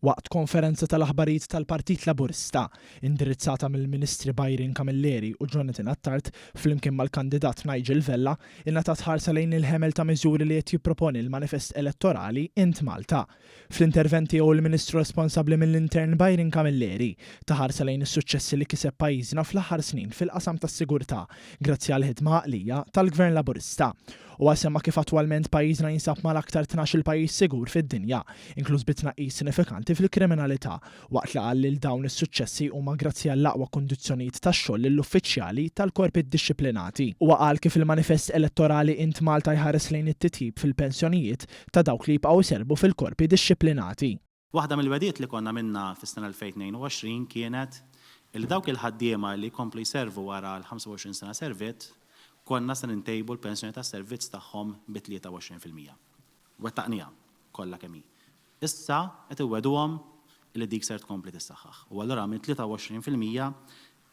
Waqt konferenza tal-aħbarijiet tal-Partit Laburista, indirizzata mill-Ministri Byron Camilleri u Jonathan Attard flimkien mal-kandidat Nigel Vella, ingħatat ħarsa lejn il-ħemel ta' miżuri li qed jipproponi l-manifest elettorali Int Malta. Fl-intervent tiegħu l-Ministru responsabbli mill-Intern Byron Camilleri ta ħarsa lejn is-suċċessi li kiseb pajjiżna fl-aħħar snin fil-qasam tas-sigurtà grazzi għall-ħidma għaqlija tal-Gvern Laburista Huwa semma kif attwalment pajjiżna jinsab mal-aktar tnax-il pajjiż sigur fid-dinja, inkluż bi tnaqqis sinifikanti fil-kriminalità, waqt li qal lil dawn is-suċċessi huma grazzi għall-aqwa kundizzjonijiet tax-xogħol lill-uffiċjali tal-korpi ddixxiplinati. Huwa qal kif il-manifest elettorali Int Malta jħares lejn it-titjib fil-pensjonijiet ta' dawk li jibqgħu jservu fil-korpi dixxiplinati. Waħda mill-wegħdiet li konna għamilna fis-sena 2022 kienet illi dawk il-ħaddiema li jkomplu jservu wara l-25 sena servitt, konna se nintejbu l-pensjoni tas-servizz tagħhom bi 23 fil-mija. Wettaqniha kollha kemm hi. Issa qed inwegħduhom illi dik ser tkompli tissaħħaħ u allura minn 23 fil-mija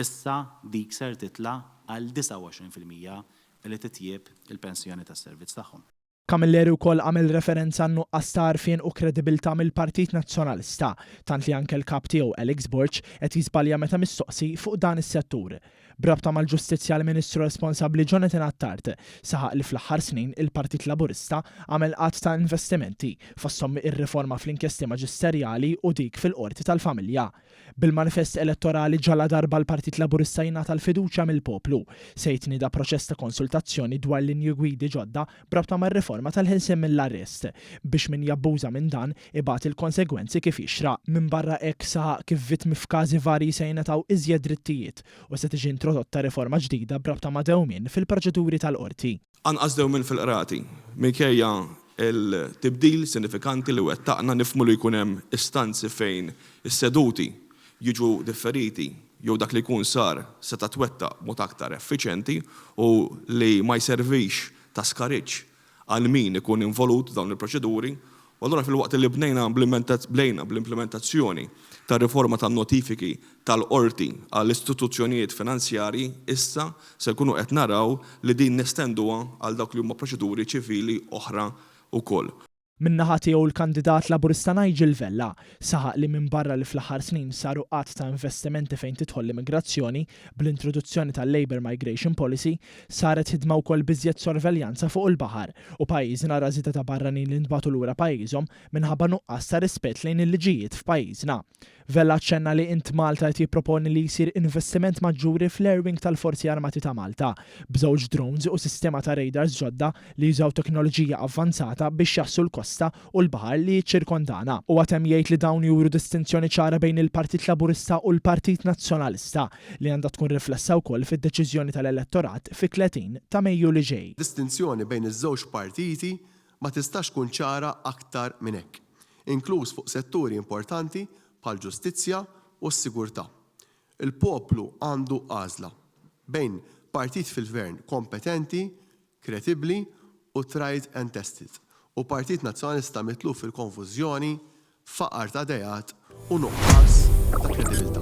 issa dik ser titla' għal 29 fil-mija illi titjieb il-pensjoni tas-servizz tagħhom. Camilleri wkoll għamel referenza għan-nuqqas ta' għarfien u kredibilità mill-Partit Nazzjonalista, tant li anke l-Kap tiegħu Alex Borg qed jiżbalja meta mistoqsi fuq dan is-settur. B'rabta mal-ġustizzja l-Ministru responsabbli Jonathan Attard saħaq li fl-aħħar snin il-Partit Laburista għamel għadd ta' investimenti fosthom ir-riforma fl-inkjesti maġisterjali u dik fil-Qorti tal-Familja. Bil-manifest elettorali ġaladarba l-Partit Laburista jingħata l-fiduċja mill-poplu, se jitnieda proċess ta' konsultazzjoni dwar linji gwidi ġodda b'rabta mar-riforma tal-ħilsien mill-arrest, biex min jabbuża minn dan ibati l-konsegwenzi kif jixraq. Minbarra hekk, saħaq kif vittmi f'każi varji se jingħataw iżjed drittijiet u se tiġi introdotta riforma ġdida b'rabta ma' dewmien fil-proċeduri tal-qorti. Anqas dewmien fil-qrati. Minkejja l-tibdil sinifikanti li wettaqna, nifhmu li jkun hemm istanzi fejn is-seduti jiġu differiti jew dak li jkun sar seta' twettaq b'mod aktar effiċjenti u li ma jservix ta' skariġġ għal min ikun involut f'dawn il-proċeduri U allura filwaqt li bnejna bdejna bl-implimentazzjoni tar-riforma tan-notifiki tal-qorti għal istituzzjonijiet finanzjarji, issa se nkunu qed naraw li din nestenduha għal dawk li huma proċeduri ċivili oħra wkoll. Min-naħa tiegħu l-kandidat Laburista Nigel Vella saħaq li minbarra li fl-aħħar snin saru għadd ta' investimenti fejn tidħol l-immigrazzjoni bl-introduzzjoni tal-Labour Migration Policy, Saret ħidma wkoll b'iżjed sorveljanza fuq il-baħar u pajjiżna ra żieda ta' barranin li ntbagħtu lura pajjiżhom minħabba nuqqas ta' rispett lejn il-liġijiet f'pajjiżna. Vella aċċenna li int Malta qed jipproponi li jsir investiment maġġuri fl-Air Wing tal-Forzi Armati ta' Malta, b'żewġ drones u sistema ta' radars ġodda li jużaw teknoloġija avvanzata biex jgħassu l-kosta u l-baħar li jiċċirkondana. Huwa temm jgħid li dawn juru distinzjoni ċara bejn il-Partit Laburista u l-Partit Nazzjonalista li għandha tkun riflessa wkoll fid-deċiżjoni tal-elettorat fit-30 ta' Mejju li ġej. Distinzjoni bejn iż-żewġ partiti ma tistax tkun ċara aktar minn hekk, inkluż fuq setturi importanti bħall-ġustizzja u s-sigurtà. Il-poplu għandu għażla, bejn partit fil-gvern kompetenti kredibbli u tried and tested u Partit Nazzjonalista mitluf fil-konfużjoni, faqar ta' ideat u nuqqas ta' kredibilità.